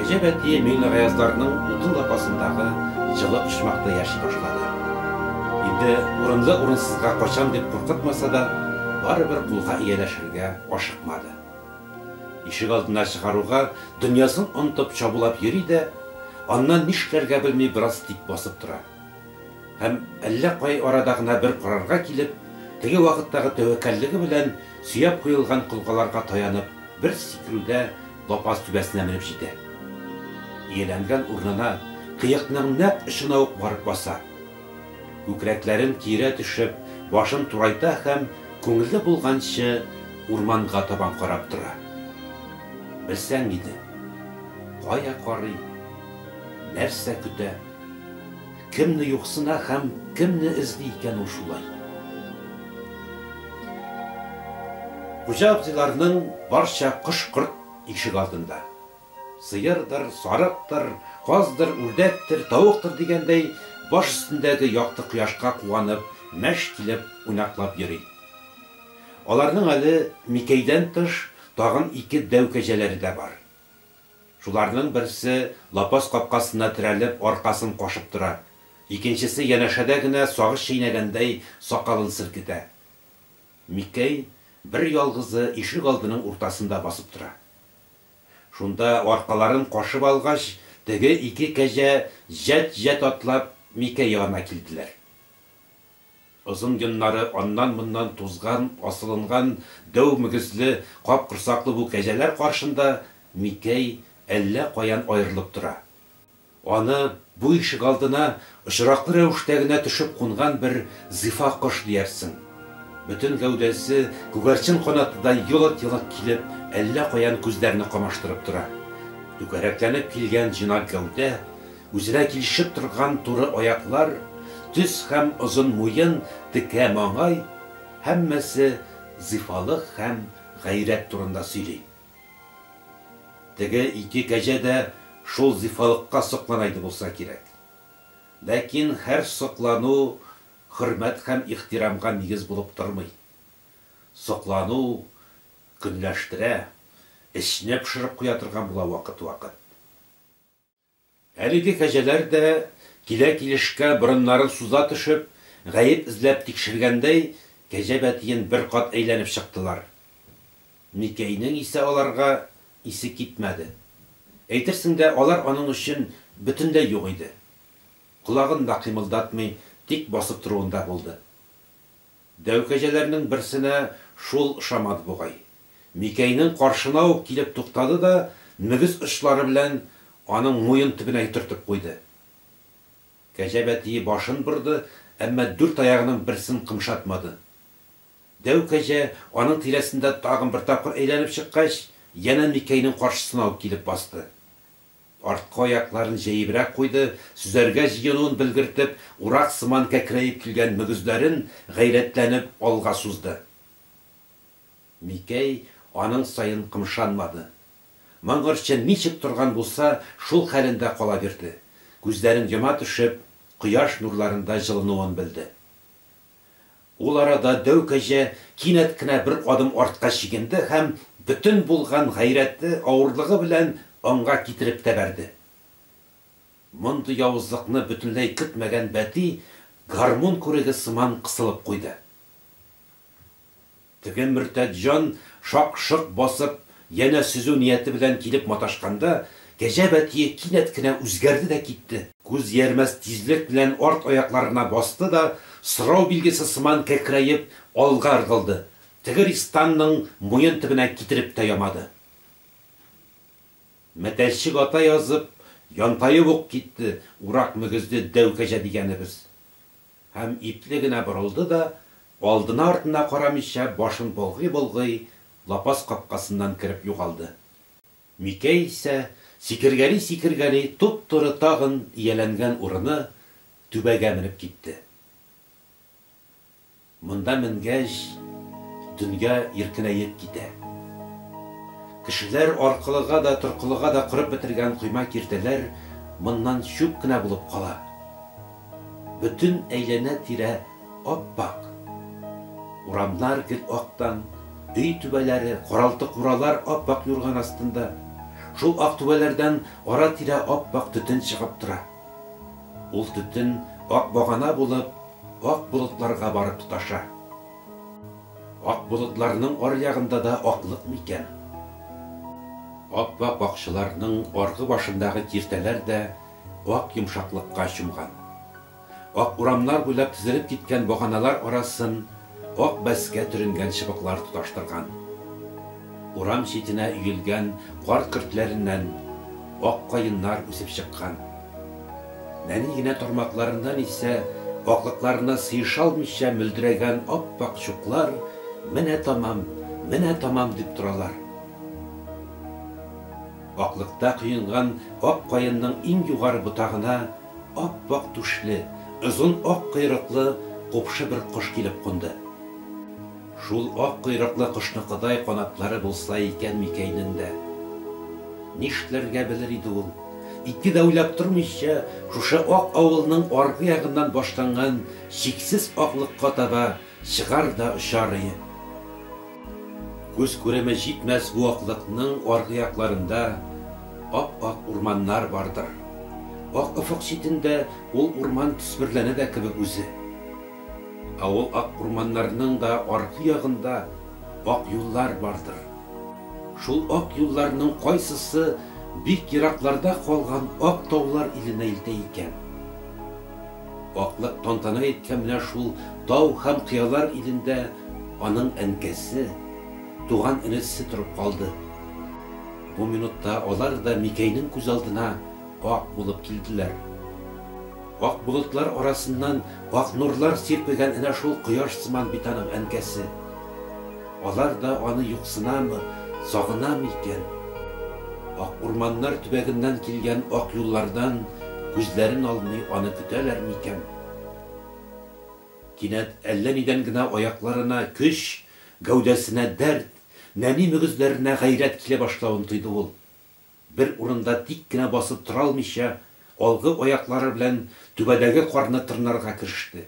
Гаҗәп әтие Миңлегаяздардың утын лапасындагы җылы почмакта яши башлады. Инде урынлы-урынсызга качам дип куркытмаса да, барыбер кулга ияләшергә ашыкмады. Ишек алдына чыгаруга, дөньясын онытып чабулап йөри дә, аннан нишләргә белми бераз тик басып тора. Һәм, әллә кай арада гына бер карарга килеп, теге вакыттагы тәвәккәллеге белән, сөяп куелган колгаларга таянып, бер сикерүдә лапас түбәсенә менеп җитә. Ияләнгән урынына, кыекның нәкъ очына ук барып баса. Күкрәкләрен киерә төшеп, башын турайта һәм, күңеле булганчы, урманга табан карап тора. Белсәң иде. Кая карый? Нәрсә көтә? Кемне юксына һәм кемне эзли икән ул шулай? Хуҗа абзыйларның барча кош-корт ишек алдында. Сыердыр, сарыктыр, каздыр, үрдәктер, тавыктыр дигәндәй, баш өстендәге якты кояшка куанып, мәш килеп, уйнаклап йөри. Аларның әле Микәйдән тыш, тагын ике дәү кәҗәләре дә бар. Шуларның берсе лапас капкасына терәлеп аркасын кашып тора, икенчесе янәшәдә генә сагыз чәйнәгәндәй сакалын селкетә. Микәй бер ялгызы ишек алдының уртасында басып тора. Шунда аркаларын кашып алгач, теге ике кәҗә җәт-җәт атлап Микәй янына килделәр. Озын йоннары аннан-моннан тузган, асылынган дәү мөгезле, капкорсаклы бу кәҗәләр каршында Микәй әллә каян аерылып тора. Аны бу ишегалдына очраклы рәвештә генә төшеп кунган бер зифа кош диярсең. Бөтен гәүдәсе күгәрчен канатыдай елык-елык килеп, әллә каян күзләрне камаштырып тора. Түгәрәкләнеп килгән җыйнак гәүдә, Үзенә килешеп торган туры аяклар, төз һәм озын муен, текә маңай, һәммәсе зифалык һәм гайрәт турында сөйли. Теге ике кәҗә дә шул зифалыкка соклана иде булса кирәк. Ләкин һәр соклану хөрмәт һәм ихтирамга нигез булып тормый. Соклану көнләштерә, эчне пошырып куя торган була вакыт-вакыт. Әлеге кәҗәләр дә, килә-килешкә борыннарын суза төшеп, гаеп эзләп тикшергәндәй, кәҗә бәтиен бер кат әйләнеп чыктылар. Микәйнең исә аларга исе китмәде. Әйтерсең лә алар аның өчен бөтенләй юк иде. Колагын да кыймылдатмый, тик басып торуында булды. Дәү кәҗәләрнең берсенә шул ошамады бугай. Микәйнең каршына ук килеп туктады да мөгез очлары белән аның муен төбенә йотыртып куйды. Кәҗә бәтие башын борды, әмма дүрт аягының берсен кымшатмады. Дәү кәҗә, аның тирәсендә тагын бер тапкыр әйләнеп чыккач, янә Микәйнең каршысына ук килеп басты. Арткы аякларын җәебрәк куйды, сөзәргә җыенуын белгертеп, урак сыман кәкрәеп килгән мөгезләрен гайрәтләнеп алга сузды. Микәй аның саен кымшанмады. Моңгырчын ничек торган булса, шул хәлендә кала бирде. Күзләрен йома төшеп, кояш нурларында җылынуын белде. Ул арада дәү кәҗә кинәт кенә бер адым артка чигенде һәм бөтен булган гайрәте, авырлыгы белән аңга китереп тәбәрде. Мондый явызлыкны бөтенләй көтмәгән бәти гармун күреге сыман кысылып куйды. Теге мөртәт җан, шак-шок басып, янә сөзү нияте белән килеп маташканда, кәҗә бәтие кинәт кенә үзгәрде дә китте, күз иярмәс тизлек белән арт аякларына басты да, сорау билгесе сыман кәкрәеп, алга ыргылды, теге ристанның муен төбенә китереп тә ямады. Мәтәлчек ата язып, янтаеп ук китте, урак мөгезле дәү кәҗә дигәнебез. Һәм ипле генә борылды да, алдына-артына карамыйча, башын болгый-болгый, лапас капкасыннан кереп югалды. Микәй исә, сикергәли-сикергәли, туп-туры тагын ияләнгән урыны, түбәгә менеп китте. Монда менгәч, дөнья иркенәеп китә. Кешеләр аркылыга да, торкылыга да корып бетергән койма-киртәләр моннан чүп кенә булып кала. Бөтен әйләнә-тирә ап-ак. Урамнар гел актан, өй түбәләре, каралты-куралар ап-ак юрган астында. Шул ак түбәләрдән ара-тирә ап-ак төтен чыгып тора. Ул төтен, ак багана булып, ак болытларга барып тоташа. Ак болытларның аръягында да аклык микән? Ап-ак бакчаларның аргы башындагы киртәләр дә Ак йомшаклыкка чумган. Ак урамнар буйлап тезелеп киткән баганалар арасын ак бәскә төренгән чыбыклар тоташтырган. Урам читенә өелгән кар көртләреннән ак каеннар үсеп чыккан. Нәни генә тармакларыннан исә аклыкларына сыешалмыйча мөлдерәгән ап-ак чуклар менә тамам, менә тамам дип торалар. Аклыкта коенган ак каенның иң югары ботагына ап-ак түшле, озын ак койрыклы купшы бер кош килеп кунды. Шул ак койрыклы кошныкыдай канатлары булса икән Микәйнең дә! Нишләргә белер иде ул? Ике дә уйлап тормыйча, шушы ак авылның аргы ягыннан башланган чиксез аклыкка таба Чыгар да очар ие. Күз күреме җитмәс бу аклыкның аргы якларында ап-ак урманнар бардыр. Ак офык читендә ул урман төсмерләнә дә кебек үзе. Ә ул ак урманнарның да аргы ягында ак юллар бардыр. Шул ак юлларның кайсысы бик еракларда калган ак таулар иленә илтә икән? Аклык тантана иткән менә шул тау һәм кыялар илендә аның әнкәсе, туган энесе торып калды. Бу минутта алар да Микәйнең күз алдына ак булып килделәр. Ак болытлар арасыннан ак нурлар сирпегән энә шул кояш сыман бит аның әнкәсе. Алар да аны юксынамы, сагынамы икән? Ак урманнар төбәгеннән килгән ак юллардан күзләрен алмый аны көтәләр микән? Кинәт әллә нидән генә аякларына көч, гәүдәсенә дәрт, нәни мөгезләренә гайрәт килә башлавын тойды ул. Бер урында тик кенә басып тора алмыйча, алгы аяклары белән түбәдәге карны тырнарга кереште.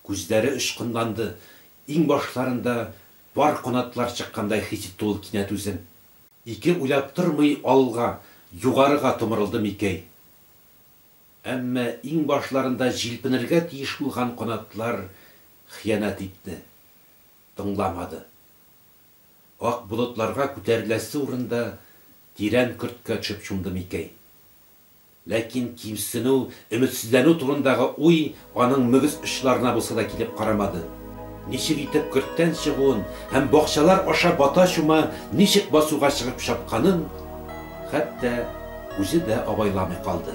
Күзләре очкынланды, иңбашларында пар канатлар чыккандай хис итте ул кинәт үзен. Ике уйлап тормый алга, югарыга томырылды Микәй. Әмма иңбашларында җилпенергә тиеш булган канатлар хыянәт итте. Тыңламады. Ак болытларга күтәреләсе урында тирән көрткә төшеп чумды Микәй. Ләкин кимсенү, өметсезләнү турындагы уй аның мөгез очларына булса да килеп карамады. Ничек итеп көрттән чыгуын һәм бакчалар аша бата-чума ничек басуга чыгып чапканын хәтта үзе дә абайламый калды.